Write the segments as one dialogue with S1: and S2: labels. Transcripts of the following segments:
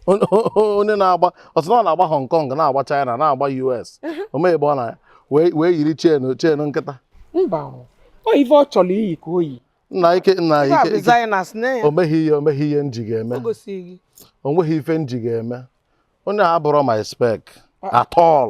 S1: onye na-agba ọsọ na ọ na-agba Hong Kong na-agba China na-agba US o mee ebe ọ na wee yiri chain chain nkịta mba
S2: ọ ife ọ chọrọ iyi ka o yi Nike
S1: Nike o
S2: nweghị ihe o nweghị ihe m
S1: ji ga-eme o nweghị ife m ji ga-eme onye a abụrọ my spec at all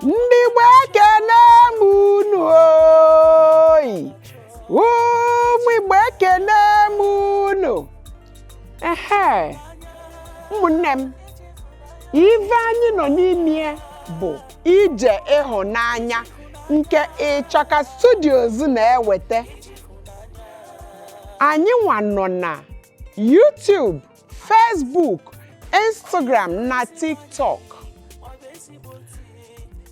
S2: ndị Igbo ekene m unu oyi ụmụ Igbo ekene m unu ehe ụmụnne m ife anyị nọ n'ime bụ ije ịhụnanya nke ịchaka studios na-eweta anyị nwa nọ na YouTube Facebook Instagram na TikTok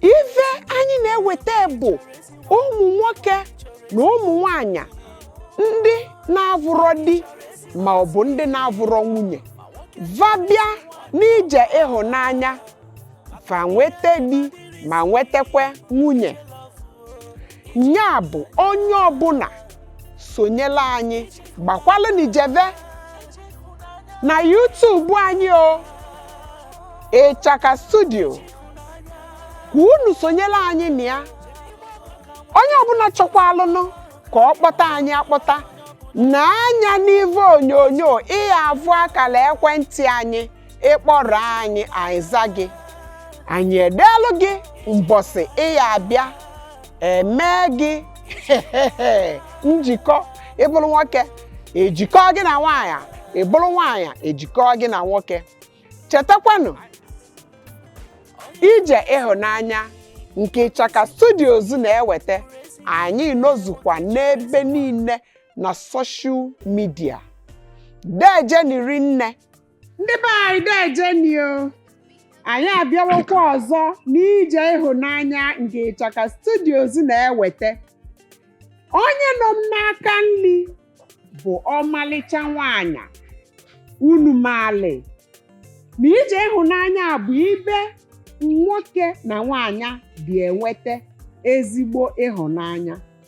S2: ife anyị na-eweta bụ ụmụ nwoke na ụmụ nwanyị ndị na-avụrọ di ma ọ bụ ndị na-avụrọ nwunye va bịa n'ije ịhụnanya va nweta di ma nwetakwa nwunye nya bụ onye ọbụla sonyela anyị gbakwalụnị jeve na YouTube anyị o ịchaka studio ka unu sonyela anyị na ya onye ọbụla chọkwalụnụ ka ọ kpọta anyị akpọta nee anya n'ivu onyonyo ị ya-avụ akala ekwentị anyị ị kpọrọ anyị anyị aza gị anyị edeelụ gị mbọsị ị ya-abịa e mee gị njikọ ị bụrụ nwoke e jikọ gị na nwaanyị ị bụrụ nwaanyị e jikọ gị na nwoke chetakwanụ ije ịhụnanya nke ịchaka studios na-eweta anyị nọzukwa n'ebe niile na social media dejeni rinne ndị be anyị dejeni o anyị abịawokwa ọzọ n'ije ịhụnanya nke ịchaka studios na-eweta onye nọ m n'aka nri bụ ọmalịcha nwanyị unu maali na ije ịhụnanya bụ ibe nwoke na nwanyị dị enweta ezigbo ịhụnanya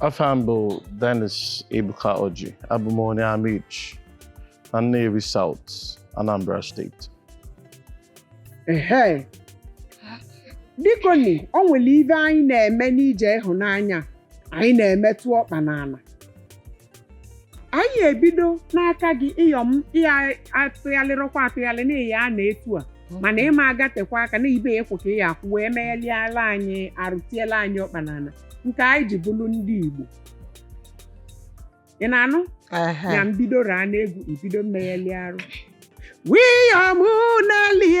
S1: Afam bụ Dennis Ebuka Oji, abụ m onye Amichi na Nnewi South, Anambra Steeti.
S2: ehe bikoni o nwere ive anyị na-eme n'ije ịhụnanya anyị na-emetụ ọkpa n'ala anyị ebido n'aka gị Iyom ịya atụghalịrọkwa atụghalị n'ihi a na etu a mana ị ma agatekwa aka na ibe ya ekwo ka ị ya akwụ wee megheliala anyị arụ tiela anyị ọkpa n'ala nke anyị ji bụrụ ndị Igbo ị na-anụ Ehe. na mbido raa n'egwu ibido mmegheli arụ Iyom Nelly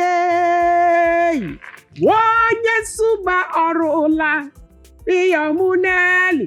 S2: onye Nsugbe o rula Iyom Nelly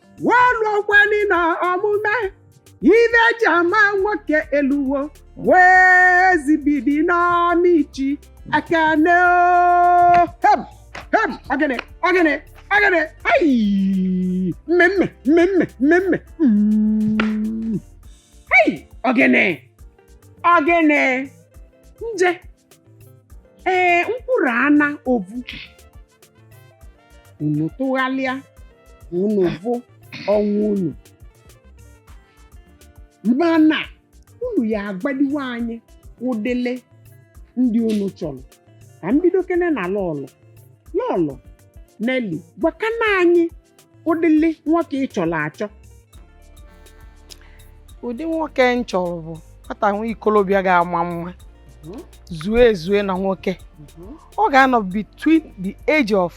S2: wee lụọkwani na omume ive e ji ama nwoke eluwo wee zibidi n'Amichi ekene o. hem hem ogene ogene ogene ayi mmemme mmemme mmemme Mm. ayi ogene ogene nje ee mkpụrụ ana ovu unu tụghalịa unu vụ onwe unu mana unu ya agwadiwe anyị ụdịle ndị unu chọrọ ka m bidokene na lọlọ lọlọ Nelly gwakana anyị ụdịle nwoke ị chọrọ
S3: achọ ụdị nwoke m chọrọ bụ nwata nwa ikolobịa ga-ama mma zue ezue na nwoke ọ ga-anọ between the age of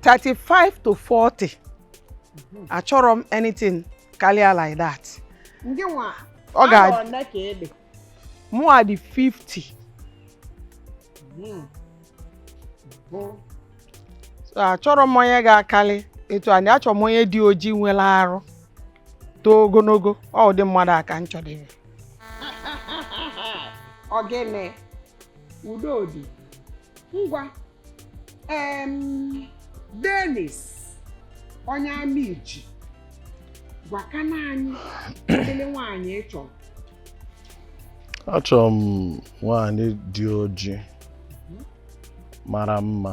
S3: 35 to 40 mhm. achọrọ m anything karịa like that
S2: ọ ga mụwa
S3: dị 50 achọrọ m onye ga-akarị etu a m dị achọrọ m onye dị ojii nwere arụ too ogologo ọ ụdị mmadụ a ka m chọdịrị
S2: ogene udodi ngwa em Dennis onye Amichi gwakana anyị ụdịle nwaanyị ị chọrọ
S1: achọrọ m nwaanyị dị ojii mara mma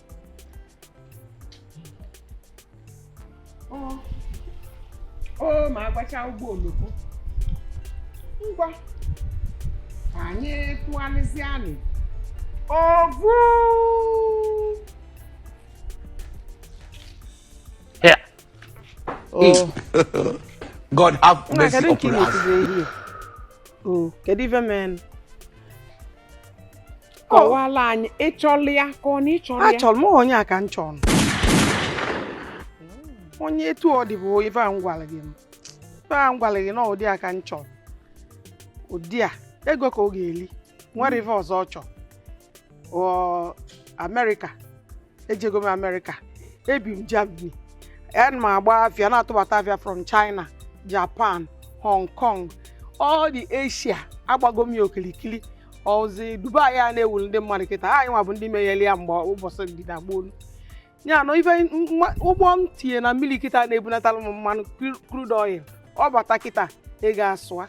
S2: o ma agbacha ụgbọ oloko ngwa ka anyị tụgharịzie anị ovu
S4: God have mercy upon us. Oh, kedu
S3: ife menụ?
S2: kọwala anyị ị chọla ya ka ọ na ị chọla ya achọrọ m onye a ka m
S3: chọrọ onye etu ọ dị bụ ife a m gwara gị m ife a m gwara gị na ụdị a ka m chọrọ ụdị a ego ka ọ ga-eli nwere ife ọzọ ọ chọrọ ọ America ejego m amerịka ebi m germany ana m agba afịa na-atụbata afịa from china japan hong kong all the asia agbago m ya okilikili ọ zi dubai a na-ewuru ndị mmadụ kịta anyị nwa bụ ndị meyere ya mgbe ụbọchị dị na gboo ya na ife nwa- ụgbọ m tinye na mmiri kịta na-ebunatara m mmanụ crude oil ọ bata kịta ị ga-asụa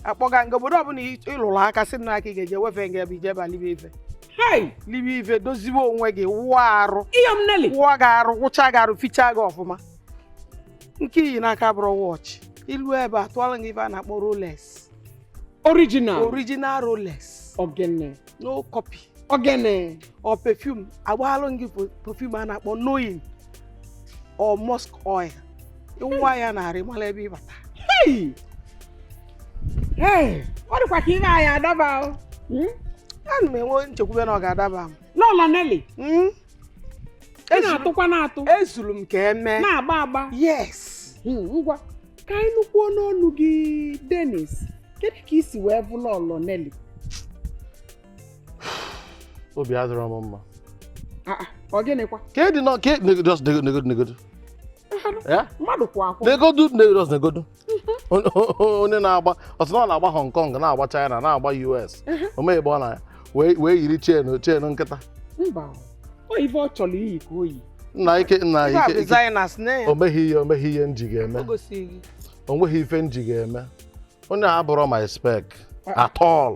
S3: akpọga m gị obodo ọbụla ị- ị lụrụ aka sị na aka ị ga-eje wefe nga ebe ị jeba libe ife hai libe
S2: ife dozibe
S3: onwe gị wụọ arụ iyom Nelly wụọ gị
S2: arụ wụcha
S3: gị arụ fichaa gị ọfụma nke i yi n'aka bụrụ watch i lu ebe a tụọlụ gị ife a na-akpọ rolex original original rolex ogene
S2: no
S3: copy
S2: ogene ọ
S3: perfume agbaalụ gị perfume a na-akpọ knowing or musk oil ị wụwa ya n'arụ mara ebe ị
S2: bata ọ dịkwa ka ihe anyị adaba hmm? ana
S3: m enwe nchekwube na ọ ga-adaba m lọlọ Nelly hmm?
S2: ị na-atụkwa na-atụ ezuru m ka
S3: eme na-agba agba
S2: yes
S3: Hmm, ngwa
S2: ka anyị nụkwuo n'ọnụ gị dennis kedu ka i si wee fụ lọlọ Nelly
S1: obi adịrọ m mma Ah, ah,
S2: ọ gịnịkwa ka ịdị nọ ka negodo
S1: negodo negodo ya
S2: mmadụ kwụ akwụ negodo negodo negodo
S1: onye na-aboast na ọ na-agba Hong Kong na-agba China na-agba US omegbe ọ na wee
S2: yiri chain
S1: chain nkịta
S2: ife ọ chọrọ iyi ka o yi nna ike
S1: nna ike
S3: o nweghị ihe o nweghị ihe
S1: m ji ga-eme o nweghị ife m ji ga-eme onye a abụrọ my spec ah. at all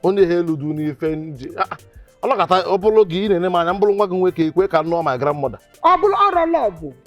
S1: onye a eludu n'ife m ji ah, ah. ọlọkata ọ bụrụ gị ị na-ene m anya m bụrụ nwa gị nwoke ekwe ka m nụọ my grandmother ọ bụrụ ọrụ
S2: lọbụ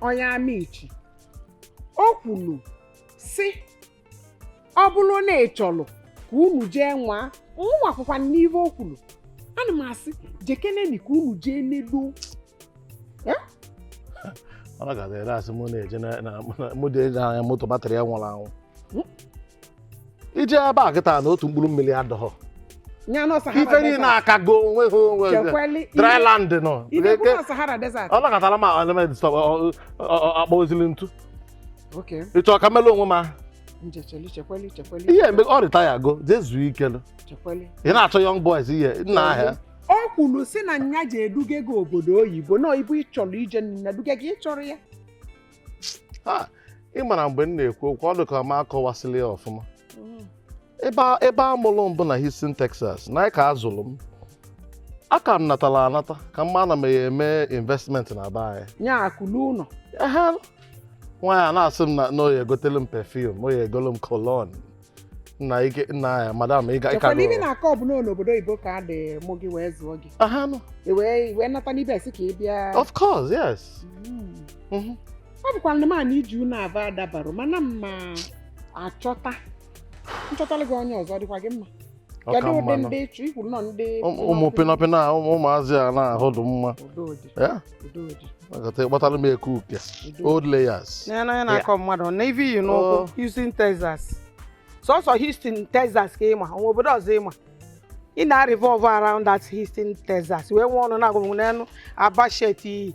S2: onye amichi o kwuru sị ọ bụrụ na ị chọrọ ka unu jee nwa nwa akwụkwọ n'ihe o kwuru ana m asị jekeneni ka unu jee
S1: n'elu ọ na-aga ere asị mụ na-eje na- na- mụ dị anya moto batrị ya nwụrụ anwụ i je ebe a kịta na otu mkpụrụ mmiri adịghọ nya nọ Sahara ife niile Desert. akago onwe ha onwe ha. Chekwali ihe- dryland nọ Ị na-ekwu na Sahara Desert? ọ nakọtara ma element stọp akpọzili ntu Okay, ị chọ ka m melụ onwe m ahụ. nje cheli, chekwali, chekwali, ihe mgbe ọ retirego jee zuo ike nụ. chekwali. ị na-achọ young boys ihe nna ahịa o kwuru sị
S2: na nya ji eduga gị obodo oyibo na oyibo ị chọrọ ije na duga gị ị chọrọ ya
S1: ị mara mgbe m na-ekwu okwu ọ dịka m akọwasịla ya ọfụma mm. ebe a mụrụ m bụ na Houston Texas na ya ka a zụrụ m a ka m natara anata ka m ma na m ya-eme investment na be anyị nya akụlu ụlọ nwaanyị a na-asị m na ọ ya-egotelụ m perfume ọ ya-egolụ m cologne nna ike nna ya madam ị ga- ị ka Chekwa na ibi nọ- na-akọ
S2: ọ bụ na n'obodo oyibo ka a dị mụọ gị wee zụọ gị aha nọ I wee i wee nata n'ibe a sị ka ị bịa of course
S1: yes Mm.
S2: Mhm. ọ bụkwa na mana ije unu ava adabarọ mana mma achọta m chọtala gị onye ọzọ ọ dịkwa gị mma kedu ụdị ndị ị chọ ikwu nọ ndị ụmụ
S1: pịnọpịnọ a ụmụazị a na-ahụ dị mma agata ị kpọtara m eke uke old layers n'anya na-akọ mmadụ
S3: na ive i yi n'ụkwụ oh. Houston Texas sọsọ Houston Texas ka ị ma o nwe obodo ọzọ ị ma ị na-revolve around that Houston Texas wee nwee ọnụ na-agwa m n'elu Aba shirt i yi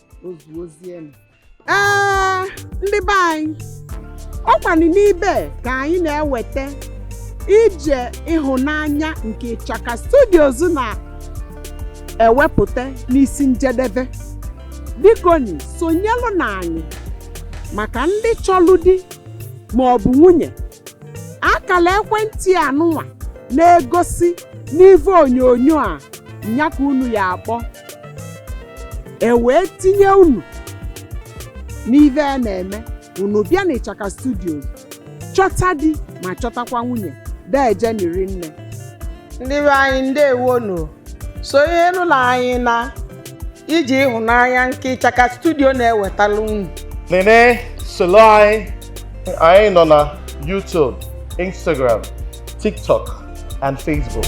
S3: o zuozienụ
S2: ee ndị be anyị ọ kwanụ n'ibe ka anyị na-eweta ije ịhụnanya nke ịchaka studios na-ewepụta n'isi njedebe bikoni sonyelụnụ anyị maka ndị chọlụ di ma ọ bụ nwunye akala ekwentị a nụnwa na-egosi n'ive onyonyo a nya ka unu ya-akpọ e wee tinye unu n'ive a na-eme unu bịa n'ịchaka studios chọta di ma chọtakwa nwunye deejeni rinne ndị be
S3: anyị ndewonu sonyelụnụ anyị n'ije ịhụnanya nke ịchaka studio na-ewetara unu niine
S1: solo anyị anyị nọ na YouTube Instagram TikTok and Facebook